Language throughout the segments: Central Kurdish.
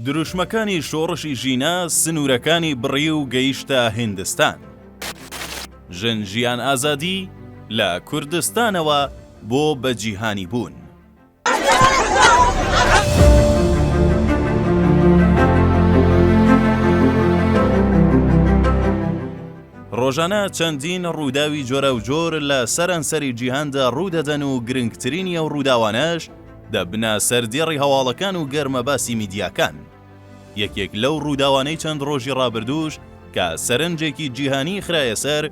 دروشمەکانی شۆڕشی ژینا سنوورەکانی بڕی و گەیشتە هیندستان. ژن ژیان ئازادی، لە کوردستانەوە بۆ بەجیهانی بوون. ڕۆژانە چەندین ڕووداوی جۆراوجۆر لە سەرانسەری جیهاندا ڕوو دەدەن و گرنگترینی ئەو ڕووداوانەش، دەبنە سەر دێڕی هەواڵەکان و گەرمە باسی میدیاکان. یەکێک لەو ڕووداوانەی چەند ڕۆژی ڕابردووش کە سەرنجێکی جیهانیی خرایە سەر،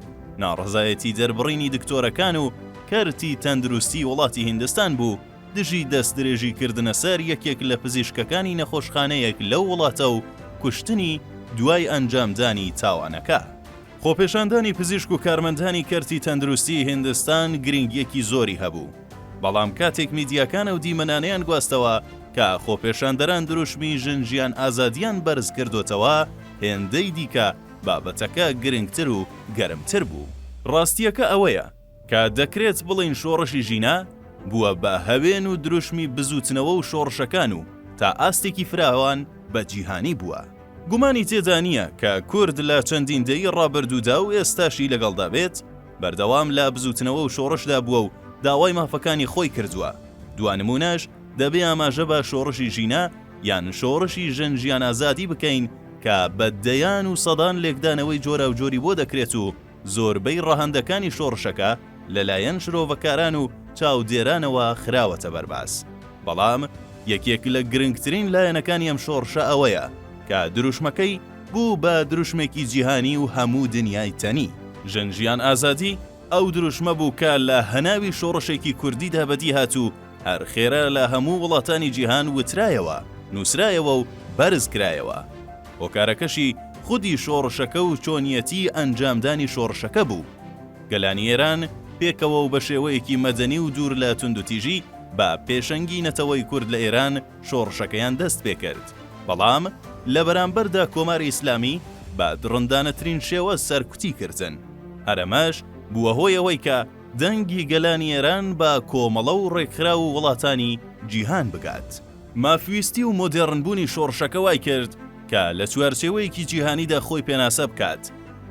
ناڕەزایەتی دەربڕینی دکتۆرەکان و کەرتی تەندروستیی وڵاتی هیندستان بوو دژی دەستدرێژی کردنە سەر یەکێک لە پزیشکەکانی نەخۆشخانەیەک لەو وڵاتە و کوشتنی دوای ئەنجامدانی تاوانەکە. خۆپێشاندانی پزیشک و کارمەندانی کەرتی تەندروستیی هیندستان گرینگییەکی زۆری هەبوو، بەڵام کاتێک میدیاکان ئەو دیمەنانەیان گواستەوە کە خۆپێشاندەران دروشمی ژن ژیان ئازادییان بەرز کردۆتەوە، هێندەی دیکە بابەتەکە گرنگتر و گەرمتر بوو. ڕاستییەکە ئەوەیە کە دەکرێت بڵێین شۆڕشی ژینا، بووە بە هەوێن و دروشمی بزووتنەوە و شۆڕشەکان و تا ئاستێکی فراوان بە جیهانی بووە. گومانی تێدا نییە کە کورد لە چەندین دەیەی ڕابردوودا و ئێستاشی لەگەڵدا بێت، بەردەوام لە بزووتنەوە و شۆڕشدا بووە و داوای مافەکانی خۆی کردووە، دوا نموونەش دەبێ ئاماژە بە شۆڕشی ژینا یان شۆڕشی ژن ژیان ئازادی بکەین کە بە دەیان و سەدان لێکدانەوەی جۆراوجۆری بۆ دەکرێت و زۆربەی ڕەهەندەکانی شۆڕشەکە لەلایەن شرۆڤەکاران و چاودێرانەوە خراوەتە بەر باس، بەڵام یەکێک لە گرنگترین لایەنەکانی ئەم شۆڕشە ئەوەیە کە دروشمەکەی بوو بە دروشمێکی جیهانی و هەموو دنیای تەنی. ژن ژیان ئازادی ئەو دروشمە بوو کە لە هەناوی شۆڕشێکی کوردیدا بەدی هات و هەر خێرا لە هەموو وڵاتانی جیهان وترایەوە، نووسرایەوە و بەرز کرایەوە. هۆکارەکەشی خودی شۆڕشەکە و چۆنیەتی ئەنجامدانی شۆڕشەکە بوو. گەلانی ئێران پێکەوە و بە شێوەیەکی مەدەنی و دوور لە توندوتیژی بە پێشەنگی نەتەوەی کورد لە ئێران شۆڕشەکەیان دەست پێ کرد، بەڵام لە بەرامبەردا کۆماری ئیسلامی بە دڕندانەترین شێوە سەرکوتی کردن. هەر ئەمەش بووە هۆی ئەوەی کە دەنگی گەلانی ئێران بە کۆمەڵە و ڕێکخراو و وڵاتانی جیهان بگات. مافویستی و مۆدێڕنبوونی شۆڕشەکە وای کرد کە لە چوارچێوەیەکی جیهانیدا خۆی پێناسە بکات.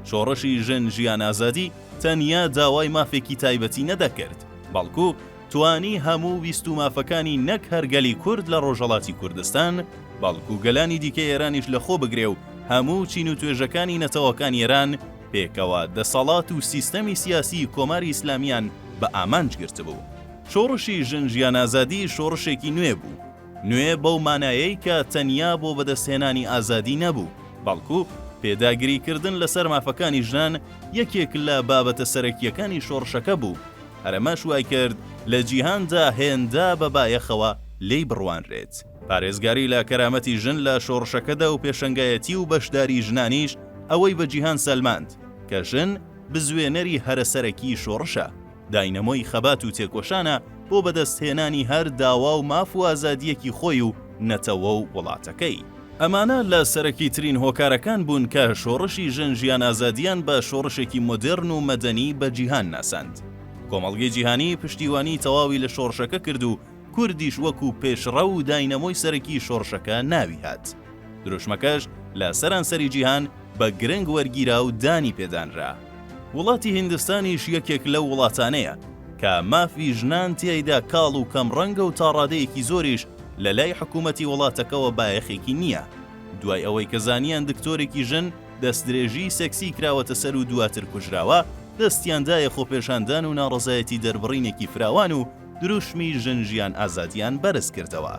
شۆڕشی ژن ژیان ئازادی تەنیا داوای مافێکی تایبەتی نەدەکرد، بەڵکو توانی هەموو ویست و مافەکانی نەک هەر گەلی کورد لە ڕۆژهەڵاتی کوردستان، بەڵکو گەلانی دیکەی ئێرانیش لەخۆ بگرێ و هەموو چین و توێژەکانی نەتەوەکانی ئێران پێکەوە دەسەڵات و سیستەمی سیاسیی کۆماری ئیسلامییان بە ئامانج گرتبوو. شۆڕشی ژن ژیان ئازادی شۆڕشێکی نوێ بوو، نوێ بەو مانایەی کە تەنیا بۆ بەدەستهێنانی ئازادی نەبوو، بەڵکو پێداگریکردن لەسەر مافەکانی ژنان یەکێک لە بابەتە سەرەکییەکانی شۆڕشەکە بوو، هەرەمەش وایکرد لە جیهاندا هێندە بە بایەخەوە لێی بڕوانرێت. پارێزگاری لە کەرامەتی ژن لە شۆڕشەکەدا و پێشەنگایەتی و بەشداری ژنانیش ئەوەی بە جیهان سەلماند کە ژن بزوێنەری هەرە سەرەکی شۆڕشە. داینەمۆی خەبات و تێکۆشانە بۆ بەدەست هێنانی هەر داوا و ماف و ئازادییەکی خۆی و نەتەوە و وڵاتەکەی. ئەمانە لە سەرەکی ترین هۆکارەکان بوون کە شۆڕشی ژن ژیان ئازادیان بە شۆڕشێکی مۆدێرن و مەدەنی بە جیهان ناساند. کۆمەڵگەی جیهانی پشتیوانی تەواوی لە شۆڕشەکە کرد و کوردیش وەکوو پێشڕەو و داینەمۆی سەرەکی شۆڕشەکە ناوی هات. دروشمەکەش لە سەرانسەری جیهان بە گرنگ وەرگیرا و دانی پێ دانرا. وڵاتی هیندستانیش یەکێک لەو وڵاتانەیە کە مافی ژنان تیایدا کاڵ و کەم ڕەنگە و تاڕادەیەکی زۆریش لە لای حکوومەتی وڵاتەکەوە بایەخێکی نییە دوای ئەوەی کە زانیان دکتۆرێکی ژن دەستدرێژیی سێکسیی کراوەتە سەر و دواتر کوژراوە دەستیان دایە خۆپێشاندان و ناڕەزایەتی دەربڕینێکی فراوان و دروشمی ژن ژیان ئازادیان بەرز کردەوە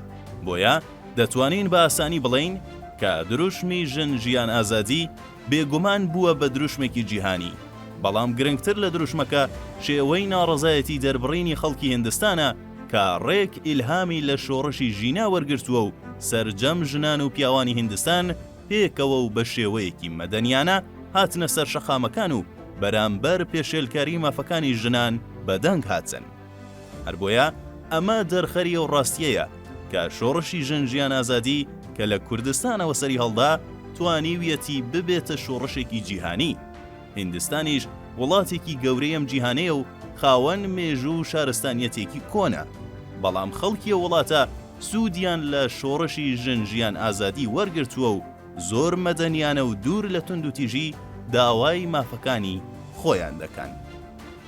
بۆیە دەتوانین بە ئاسانی بڵێین کە دروشمی ژن ژیان ئازادی بێگومان بووە بە دروشمێکی جیهانی، بەڵام گرنگتر لە دروشمەکە شێوەی ناڕەزایەتی دەربڕینی خەڵکی هیندستانە کە ڕێک ئیلهامی لە شۆڕشی ژینا وەرگرتووە و سەرجەم ژنان و پیاوانی هیندستان پێکەوە و بە شێوەیەکی مەدەنیانە هاتنە سەر شەقامەکان و بەرامبەر پێشێلکاری مافەکانی ژنان بە دەنگ هاتن. هەر بۆیە ئەمە دەرخەری ئەو ڕاستیەیە کە شۆڕشی ژن ژیان ئازادی کە لە کوردستانەوە سەری هەڵدا توانیویەتی ببێتە شۆڕشێکی جیهانی. هیندستانیش وڵاتێکی گەورەی ئەم جیهانەیە و خاوەن مێژوو و شارستانیەتێکی کۆنە، بەڵام خەڵکی ئەو وڵاتە سوودیان لە شۆڕشی ژن ژیان ئازادی وەرگرتووە و زۆر مەدەنیانە و دوور لە توندوتیژی داوای مافەکانی خۆیان دەکەن.